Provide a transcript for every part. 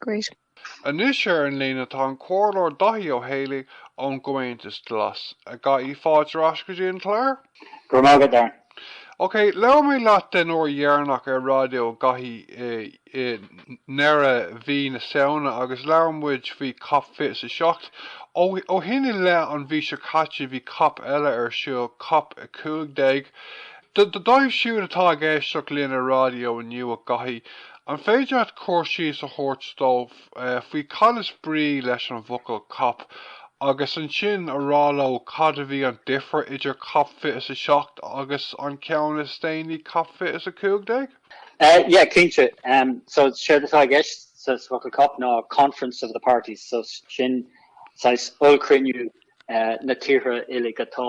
Great. Anois ar an líne tá an Comhairleoir Daithí Ó hÉalaí ón gComhaontas Glas. A Dhaithí, fáilte ar ais go dtí an clár. Go raibh maith agat, Darren. Ok, labhair mé leat den uair dheireanach ar Raidió a Dhaithí i ndeireadh mhí na Samhna agus labhair muid faoi cop 27. Ó shin i leith an mhí seo caite bhí cop eile ar siúl, cop 15. Dóibh siúd atá ag éisteacht linn ar raidió inniu, a Dhaithí, An féidir leat cur síos a thabhairt domh faoi cad is brí leis an bhfocal 'CoP' agus ansin a rá leo cad a bhí an difear idir cop fiche is a seacht agus an ceann is déanaí cop fiche is a cúig déag? Eh yeah cinnte, em so séard atá i gceist sa bhfocal cop ná conference of the parties so sin saghas ollchruinniú eh na tíortha uilig atá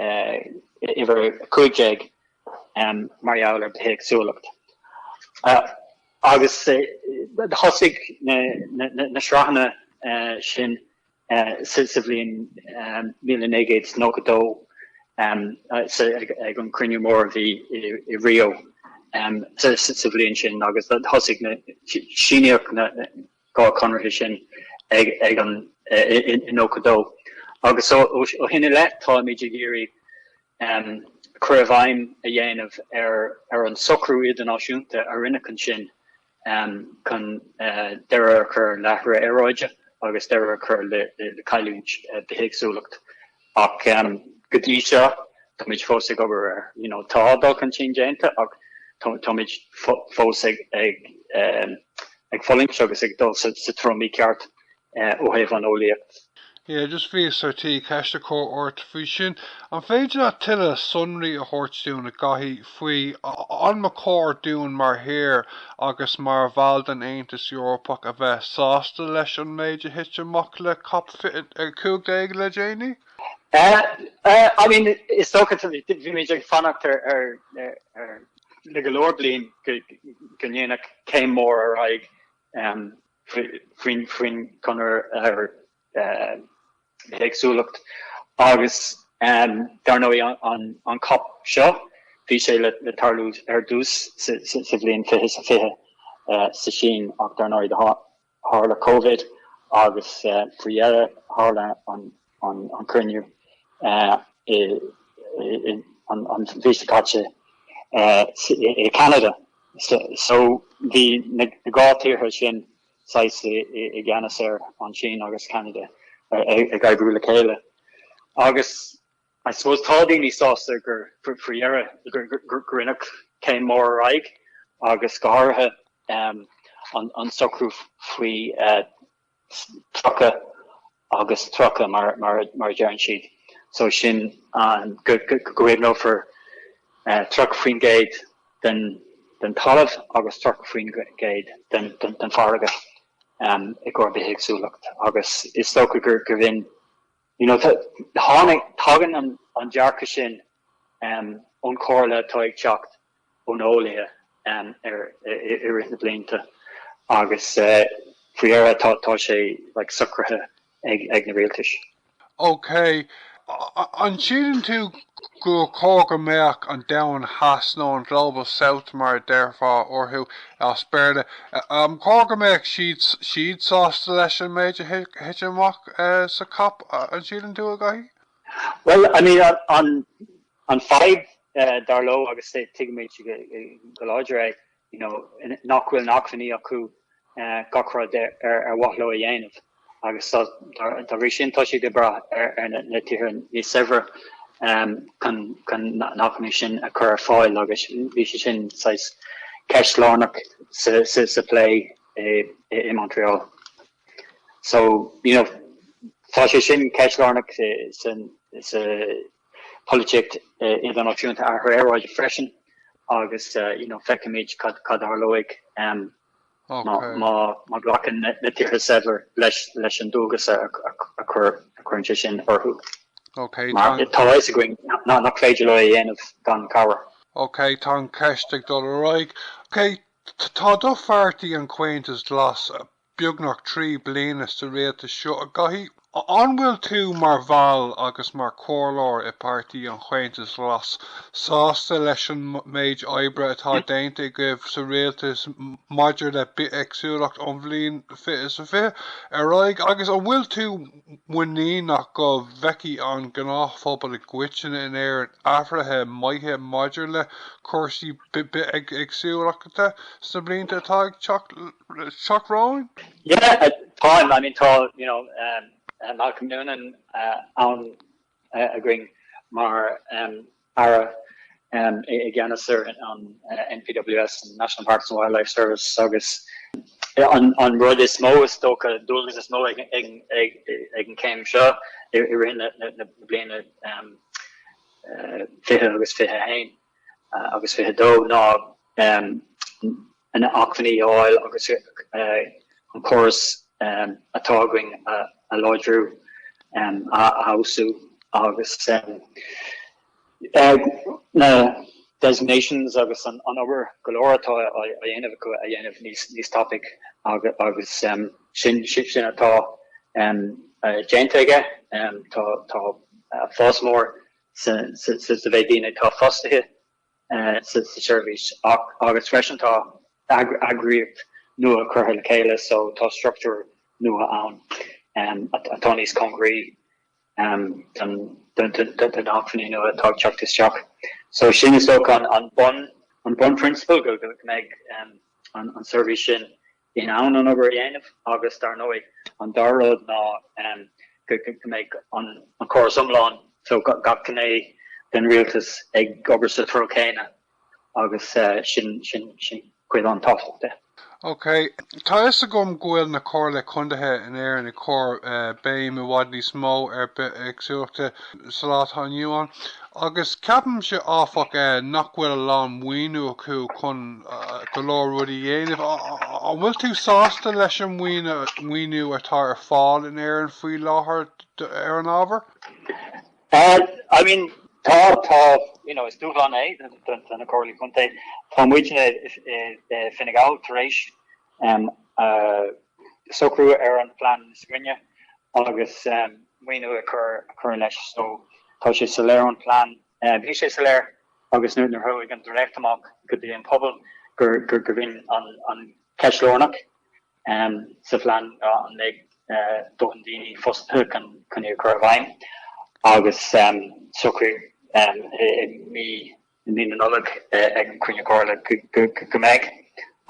uimhir 15 mar gheall ar bithéagsúlacht. Agus thosaigh na sraitheanna sin sa bhliain míle naoi gcéad is nócha dó ag an gcruinniú mór a bhí i Rio sa bhliain sin, agus thosaigh na, síníodh na, dhá conarthaí sin ag an i nócha dó agus ó shin i leith táimid ag iarraidh cur i bhfeidhm a dhéanamh ar ar an socrú idirnáisiúnta a rinneadh ansin chun deireadh a chur le hathrú aeráide agus deireadh a chur le cailliúint bithéagsúlacht. Ach go dtí seo, táimid fós ag obair air. You know, tá dul chun cinn déanta ach táimid fós ag fulaingt agus ag dul sa treo mícheart ó thaobh an eolaíocht. Yeah, just bhíos ar tí ceist a chur ort faoi sin. An féidir leat tuilleadh sonraí a thabhairt dúinn a Dhaithí. faoi an mba chóir dúinn mar thír agus mar bhall den Aontas Eorpach a bheith sásta leis an méid a thit amach le Cop a cúig déag le déanaí. I mean, is dócha, bhí muid ag fanacht ar le go leor bliain go ndéanfaí céim mór ar aghaidh faoin gconradh ar bithéagsúlacht agus dar ndóigh an cop seo, bhí sé le tarlú ar dtús sa bhliain fiche is a fiche sa tSín ach dar ndóigh tharla Covid agus faoi dheireadh tharla an cruinniú an mhí seo caite i gCeanada. So bhí na dhá tíortha sin saghas i gceannas air, an tSín agus Ceanada ag oibriú le chéile agus I suppose tá daoine sásta gur faoi dheireadh gur rinneadh céim mór ar aghaidh agus go háirithe an socrú faoi 30 agus 30, mar a deireann siad, so sin an, go gcaomhnófar 30% den talamh agus 30% den farraige i gcomhair bithéagsúlacht agus is dócha gurbh in, you know, tháinig, tagann an dearcadh sin ón chomhairle atá ag teacht ó na heolaithe i rith na blianta agus faoi dheireadh tá sé like socraithe ag na rialtais. OK. An síleann tú gur chóir go mbeadh an Domhan Theas, nó an Global South mar a déarfá orthu as Béarla, ar chóir go mbeadh siad sásta leis an méid a thit amach sa cop, an síleann tú, a Dháithí? Bhuel, I mean, an. An fadhb, dar leo, agus tuigimid go láidir é, you know, nach bhfuil na hacmhainní acu gach rud ar mhaith leo a dhéanamh agus dá bhrí sin tá siad ag brath ar na tíortha níos saibhre chun na hacmhainní sin a chur ar fáil agus bhí sé sin saghas ceist lárnach sa phlé i Montreal. So, you know, tá sé sin ceist lárnach sa Polaitíocht idirnáisiúnta athrú aeráide freisin agus, you know, feicfimid cad a tharlóidh má ghlacann na tíortha saibhir leis an dualgas a chuireann sé sin orthu. Ok, mar tá a fhios againn nach féidir leo é a dhéanamh gan cabhair. Ok, tá an cheist ag dul ar aghaidh. Ok, tá do pháirtí, an Comhaontas Glas, beagnach trí bliana sa Rialtas seo, a Dháithí. An bhfuil tú mar bhall agus mar chomhairleoir i bPáirtí an Chomhaontais Ghlais sásta leis an méid oibre atá déanta agaibh sa Rialtas maidir le bithéagsúlacht ón bhliain 2020 ar aghaidh agus an bhfuil tú muiníneach go bhfeicfidh an gnáthphobal i gcoitinne in Éirinn athruithe maithe maidir le cúrsaí bithéagsúlachta sna blianta atá ag teacht romhainn. Yeah, táim, I mean, tá, you know, Malcolm Noonan ann. againn mar Aire i gceannas ar an NPWS, an National Parks and Wildlife Service, agus an rud is mó, is dócha, an dualgas is mó ag an gcéim seo i rith na bliana 20 agus 21 agus 22 ná na acmhainní a fháil agus an córas atá againn a láidriú, a fheabhsú agus na designations agus an obair go leor atá á dhéanamh acu a dhéanamh níos tapaidh agus sin atá déanta aige. Tá fás mór sa mhéid daoine atá fostaithe sa tseirbhís agus freisin tá eagraíocht nua curtha le chéile so tá struchtúr nua ann atá níos cóngaraí do na hacmhainní nua atá ag teacht isteach. So sin is dócha an bunphrionsabal go mbeidh an tseirbhís sin in ann an obair a dhéanamh agus, dar ndóigh, an dara rud ná go mbeidh an córas iomlán, so gach gné den rialtas, ag obair sa treo céanna agus sin cuid an-tábhachtach de. OK. Tá a fhios agam go bhfuil na comhairlí contaetha in Éirinn ag cur béim i bhfad níos mó ar bithéagsúlachta sa lá atá inniu ann agus ceapaimse, áfach, nach bhfuil a lán maoiniú acu chun go leor rudaí a dhéanamh. An bhfuil tú sásta leis an maoiniú atá ar fáil in Éirinn faoi láthair ar an ábhar? I mean, tá, tá, you know, is dúshlán é do na Comhairlí Contae. Tá muidne i Fine Gall tar éis um a socrú ar an phlean níos grinne agus um maoiniú a chur a chur leis. So tá sé soiléir ón phlean, eh bhí sé soiléir agus nuair nuair chuaigh an dréacht amach go dtí an pobal gur gur gurbh in an an ceist lárnach um sa phlean ah an mbeidh eh dóthain daoine fostaithe chun chun í a chur i bhfeidhm agus um socraíodh um i i mí i mí na Nollag ag an Chruinniú Comhairle go mbeidh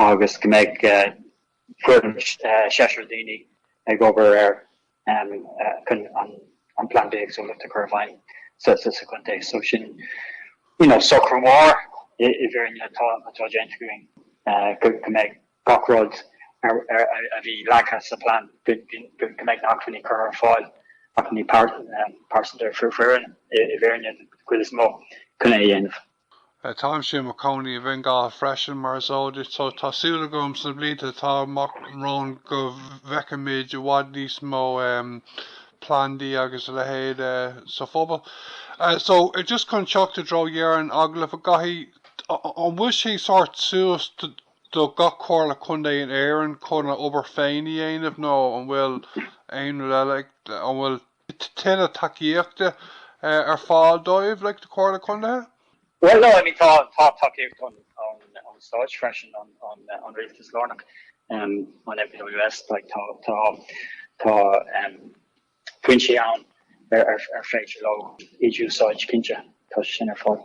agus go mbeidh foireann seisear daoine ag obair air chun an plean bithéagsúlacht a chur i bhfeidhm sa chontae. So sin you know socrú mór i bhfírinne atá déanta againn go mbeidh gach rud a bhí leagtha sa bplean go mbeidh na hacmhainní curtha ar fáil, acmhainní pearsanta ar foireann i bhfírinne den chuid is mó, chun é a dhéanamh. Táimse i mo chónaí i bhFine Gall freisin, mar is eol duit, so tá súil agam sna blianta atá amach romhainn go bhfeicfimid i bhfad níos mó plandaí agus a leithéid sa phobal. So just chun teacht i dtreo dheireadh an agallaimh, a Dhaithí, an bhfuil sé sórt suas do. do gach Comhairle Contae in Éirinn chun a obair féin a dhéanamh nó an bhfuil aon rud eile an bhfuil tuilleadh tacaíochta ar fáil dóibh leis na Comhairlí Contae? Bhuel no I mean tá tá tacaíocht an an an stáit freisin an an an rialtas lárnach um, an NPWS like tá tá tá um, cistí ann ar féidir leo iad a úsáid, cinnte, tá sin ar fáil.